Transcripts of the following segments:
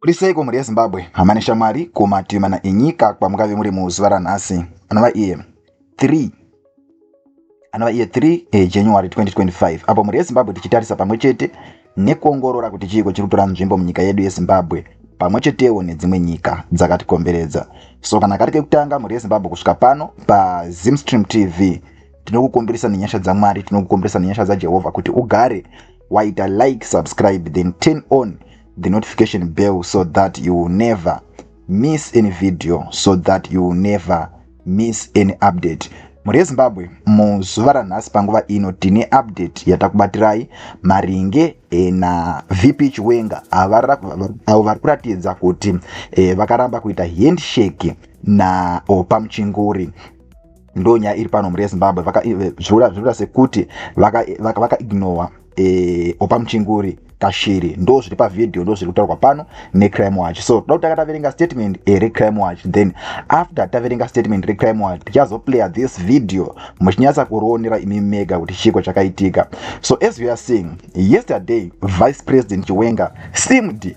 Muri seiko mhuri yeZimbabwe? Hama neshamwari kumativi mana enyika kwamungave muri muzuva ranhasi. Anova iye 3 anova iye 3 eh, January 2025 apo mhuri yeZimbabwe tichitarisa pamwe chete nekuongorora kuti chiiko chiri kutora nzvimbo munyika yedu yeZimbabwe pamwe chetewo nedzimwe nyika dzakatikomberedza. So kana kari kekutanga mhuri yeZimbabwe kusvika pano paZimstream TV tinokukumbirisa nenyasha dzamwari tinokukumbirisa nenyasha dzajehovha kuti ugare waita like subscribe then turn on the notification bell so that you will never miss any video so that you will never miss any update mhuri yezimbabwe muzuva ranhasi panguva ino tine update yatakubatirayai maringe e, navp chiwenga avo vari kuratidza kuti e, vakaramba kuita handshake naopa muchinguri ndo nyaya iri pano mhuri yezimbabwe zvinoda sekuti vakaignore vaka e, opa muchinguri kashiri ndo zviri pavhidhiyo ndo zviri kutaurwa pano necrime watch so toda kutanga taverenga statement e, recrime watch then after taverenga statement recrime watch tichazoplaya this video muchinyatsa kurionera imi mega kuti chiiko chakaitika so as we are seeing yesterday vice president chiwenga simd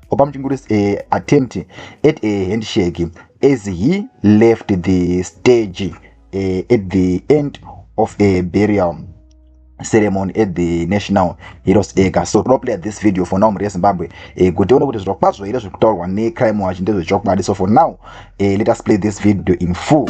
opa muchingurisi a eh, attempt at a eh, handshake as he left the stage uh, at the end of a burial ceremony at the national heroes acre so toda player this video for now mhuri yezimbabwe eh, kuti tione kuti zvirokwazvo here zviri kutaurwa necrime watch ndezvechokwadi so for now eh, let us play this video in full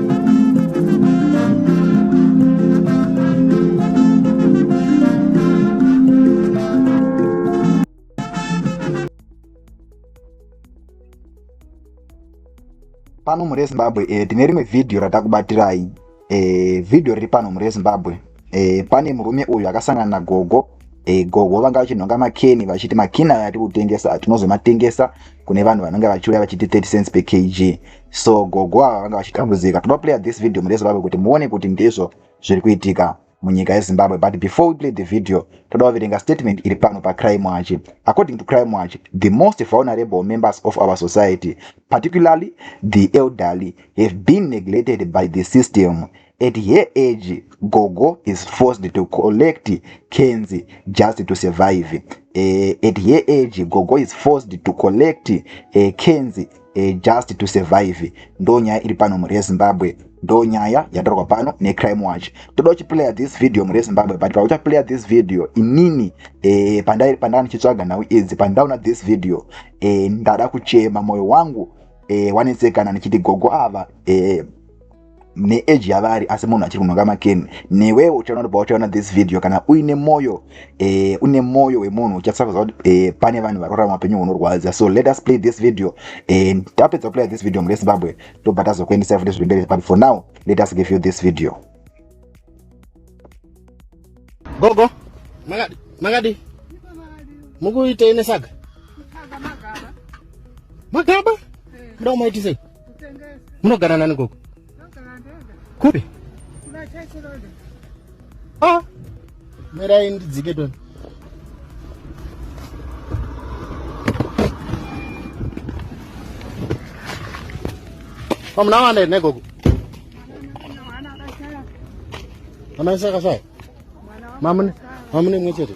pano murezimbabwe eh, tine rimwe vhidhiyo ratakubatirai eh, vhidhiyo riri pano murezimbabwe e, pane murume uyu akasangana nagogo e, gogo vanga vachinhonga makeni vachiti makeni aya atiri kutengesa tinozomatengesa kune vanhu vanenge vachiuya vachiti 30 cents per kg so gogo ava vanga vachitambudzika toda player this video murezimbabwe kuti muone kuti ndizvo zviri kuitika munyika yezimbabwe but before we play the video toda kuverenga statement iri pano pacrime watch according to crime watch the most vulnerable members of our society particularly the elderly have been neglected by the system At her age, Gogo is forced to collect cans just to survive. Uh, at her age, Gogo is forced to collect uh, cans uh, just to survive. Ndo nyaya iri pano mhuri yeZimbabwe. Ndo nyaya yatorwa pano neCrime Watch. Toda uchiplayer this video mhuri yeZimbabwe, but pauchaplayer this video inini uh, pandai pandanga ndichitsvaga nhau idzi pandaona this video uh, ndada kuchema moyo wangu uh, wanetsekana ndichiti gogo ava uh, neeji yavari asi munhu achiri kunhonga makeni newewo uchaona pauchaona this video kana uine moyo eh, une moyo wemunhu uchasakuza kuti eh, pane vanhu vari kurarama upenyu hunorwadza so let us play this video eh, tapedza kuplaya this video murezimbabwe tobva tazokuendesa futi zviri but for now let us give you this video gogo makadi makadi mukuitei nesaga magaba muda kumaitisa munogara nani gogo kupi ah. mirai ndidzike toni pamuna wana here negogo mwana wese akashaya mamune mwe chete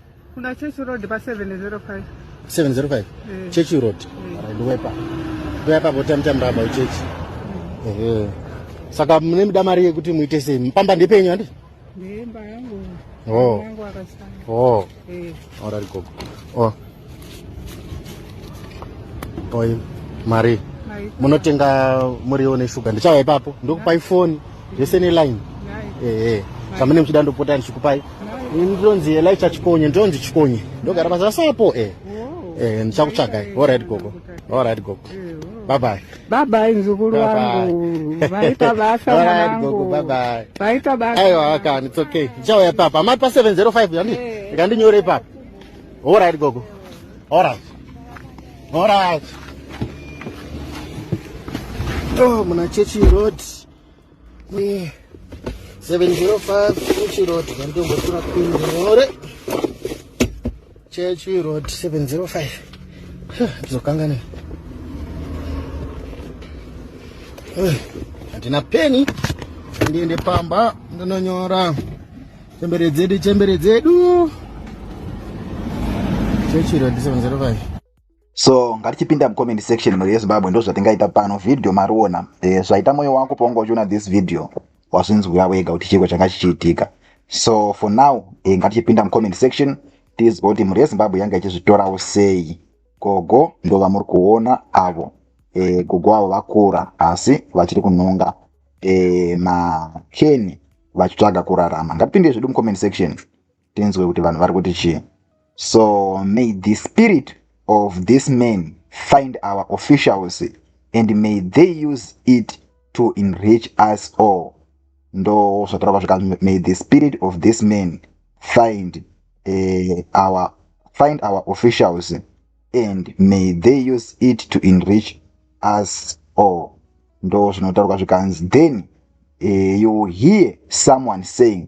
Kuna Church Road pa 705. 705. Eh. Church Road. Eh. Ndowepa. Ndowepa bota mtamba aba church. Eh. eh. Saka mune mda mari yekuti muite sei? Mpamba ndepenyu handi? Ndemba yangu. Oh. Yangu akasanga. Oh. Eh. Ora rikoko. Oh. Oi, mari. Munotenga muriwo neshuga. Ndichauya ipapo. Ndokupai foni. zvese neline ehe zvamene muchida ndopota ndichikupai ndinonzi elicha chikonye ndinonzi chikonye ndogara basa rasapo e e ndichakutsvagai orit gogo orit gogo babai babai mzukuru wangu vaita basa wangu vaita basa aiwa kani it's okay ndichauya papa amai pa 705 yandi ikandinyore ipapa orit gogo orit orit oh muna chechi road kwe 705 Chechi Road kandongotura kunyore Chechi Road 705 ndizokangana handina peni ndiende pamba ndinonyora chembere dzedu chembere dzedu Chechi Road 705 so ngatichipinda mucomment section mhuri yezimbabwe ndozvatingaita pano video mariona e, eh, zvaita moyo wako paunga uchiona this video wazvinzwira wega kuti chiko changa chichiitika so for now e, ngatichipinda mucomment section tizwa kuti mhuri yezimbabwe yanga ichizvitorawo sei gogo ndo vamuri kuona avo e, gogo avo vakura asi vachiri kunhonga e, makeni vachitsvaga kurarama ngatipinde zvedu mucomment section tinzwe kuti vanhu vari kuti chii so may the spirit of this man find our officials and may they use it to enrich us all ndo zvatorava zvika may the spirit of this man find uh, our find our officials and may they use it to enrich us all ndo zvinotaurwa zvikanzi then uh, you hear someone saying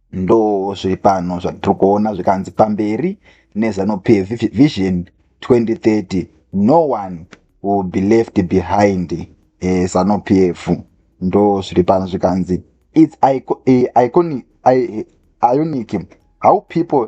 Ndo zviri pano zvatiri kuona zvikanzi pamberi neZanu PF Vision 2030 no one will be left behind eh, Zanu PF ndo zviri pano zvikanzi it's eh, iconic, eh, ionic how people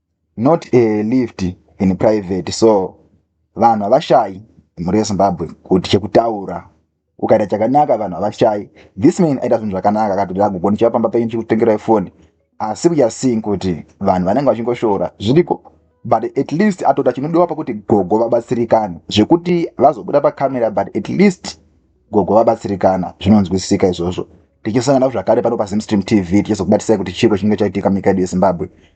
not a lift in private so vanhu havashayi mhuri yezimbabwe kuti chekutaura ukaita chakanaka vanhu havashayi this man aita zvinhu zvakanaka akatoti agogoni chiva pamba penyu chikutengerai foni asi we are seeing kuti vanhu vanenge vachingoshora zviriko but at least atota chinodiwa pakuti gogo vabatsirikane zvekuti vazobuda pacamera but at least gogo vabatsirikana zvinonzwisisika izvozvo tichisangana zvakare pano pazimstream tv tichizokubatisai kuti chiko chinenge chaitika munyika yedu yezimbabwe